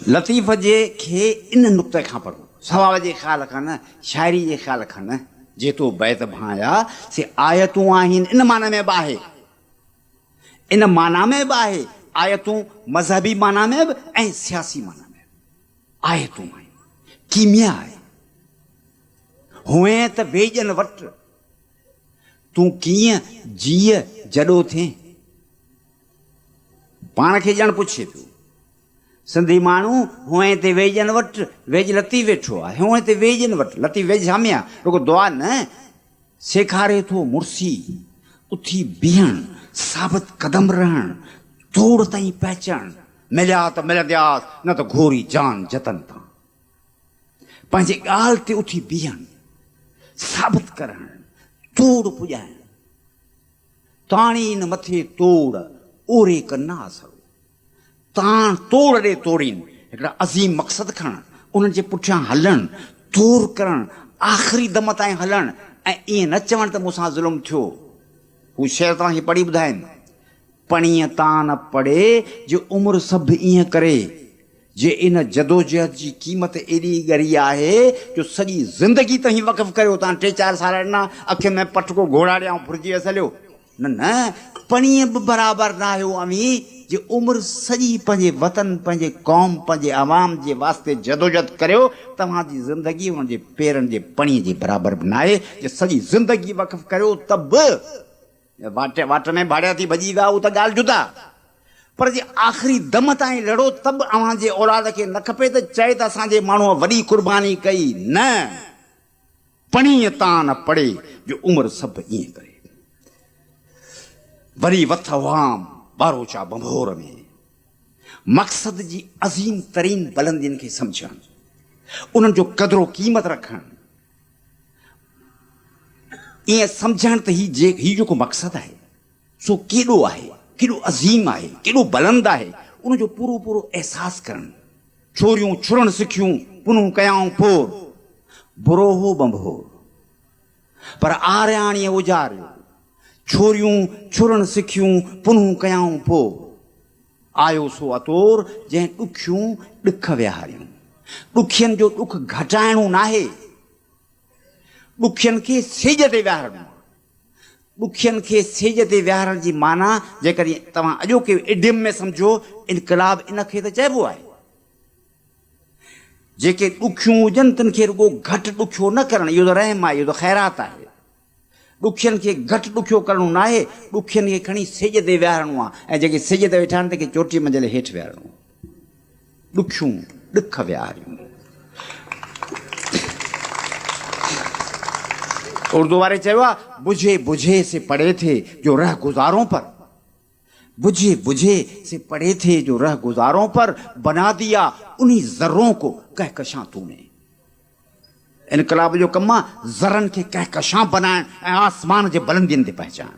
لطيف جي کي ان نقطي کان پڙهو، ثواب جي خيال کان نه، شاعري جي خيال کان نه، جي تو بيت ڀانئيا سي آيتون آهن ان معنيٰ ۾ به آهي، ان معنيٰ ۾ به آهي، آيتون مذهبي معنيٰ ۾ به ۽ سياسي معنيٰ ۾ به آيتون آهن، ڪيميا آهي. هونئن ته ويڄن وٽ تون ڪيئن جيء جڏو ٿين؟ پاڻ کي ڄڻ پڇي پيو. سنڌي ماڻهو هونء تي ويڄن وٽ ويڄ لطيف ويٺو آهي. هونء تي ويڄن وٽ لطيف ويڄ سامي آهي. رڳو دعا نه، سيکاري ٿو مڙسي اٿي بيهڻ، ثابت قدم رهڻ، جوڙ تائين پهچڻ، مليا ته ملندياس، نه ته گهوري جان جتن تان پنهنجي ڳالهه تي اٿي بيهڻ، ثابت ڪرڻ، توڙ پڄائڻ. تاڻي ان مٿي توڙ اوري ڪن نه آسرو. تان توڙ ڏي توڙين هڪڙا عظيم مقصد کڻڻ، انهن جي پٺيان هلڻ، تور ڪرڻ، آخري دم تائين هلڻ ۽ ائين نه چوڻ ته مون سان ظلم ٿيو. هو شعر توهان کي پڙهي ٻڌائين. پڻيء تان نه پڙي جي عمر سڀ ائين ڪري، جي ان جدوجهد جي قيمت ايڏي ڳري آهي جو سڄي زندگي تهين وقف ڪريو تان ٽي چار سال ڏنا، اکين ۾ پٽڪو گهوڙا ڏيئان ڦرجي ويس هليو. نه نه پڻيء به برابر ناهي اهو اوهين جي عمر سڄي پنهنجي وطن، پنهنجي قوم، پنهنجي عوام جي واسطي جدوجھد ڪريو، توهان جي زندگي انهن جي پيرن جي پڻيء جي برابر به ناهي جي سڄي زندگي وقف ڪريو ته به واٽ واٽ ۾ ڀاڙيا ٿي ڀڄي ويا اهو ته ڳالهه جدا پر جي آخري دم تائين لڙو ته به اوهان جي اولاد کي نه کپي ته چئي ته اسان جي ماڻهوء وڏي قرباني ڪئي نه پڻيء تان نه پڙي جو عمر سڀ ائين ڪري. وري وٿ هئام ٻاروچا ڀنڀور ۾. مقصد جي عظيم ترين بلندين کي سمجهڻ، انهن جو قدر و قيمت رکڻ، ائين سمجهڻ ته هي جيڪو مقصد آهي، سو ڪيڏو آهي، ڪيڏو عظيم آهي، ڪيڏو بلند آهي، ان جو پورو پورو احساس ڪرڻ. ڇوريون ڇڙڻ سکيون، پنهون ڪيائون پور. برو هو ٻنڀور، پر آرياڻيء اجاريو. ڇوريون ڇڙڻ سکيون، پنهون ڪيائون پور. آيو سو اطور، جنهن ڏکيون ڏک ويهاريون. ڏکين جو ڏک گهٽائڻو ناهي، ڏکين کي سيڄ تي ويهارڻو آهي. ڏکين کي سيڄ تي ويهارڻ جي معنيٰ جيڪڏهن توهان اڄوڪي ايڊيم ۾ سمجهو، انقلاب ان کي ته چئبو آهي. جيڪي ڏکيون هجن تن کي رڳو گهٽ ڏکيو نه ڪرڻ اهو ته رحم آهي، اهو ته خيرات آهي. ڏکين کي گهٽ ڏکيو ڪرڻو ناهي، ڏکين کي کڻي سيڄ تي ويهارڻو آهي ۽ جيڪي سيڄ تي ويٺا آهن تن کي چوٽي منزل هيٺ ويهارڻو آهي. ڏکيون ڏک ويهاريون. اردو واري چيو آهي بجهي بجهي سي پڙهي ٿي جو رهه گذارون پر بجهي بجهي سي پڙهي ٿي جو رهه گذارون پر بنا ديا انهي ذرون ڪو ڪهڪشان تون ني انقلاب جو ڪم آهي ذرن کي ڪهڪشان بنائڻ ۽ آسمان جي بلندين تي پهچائڻ.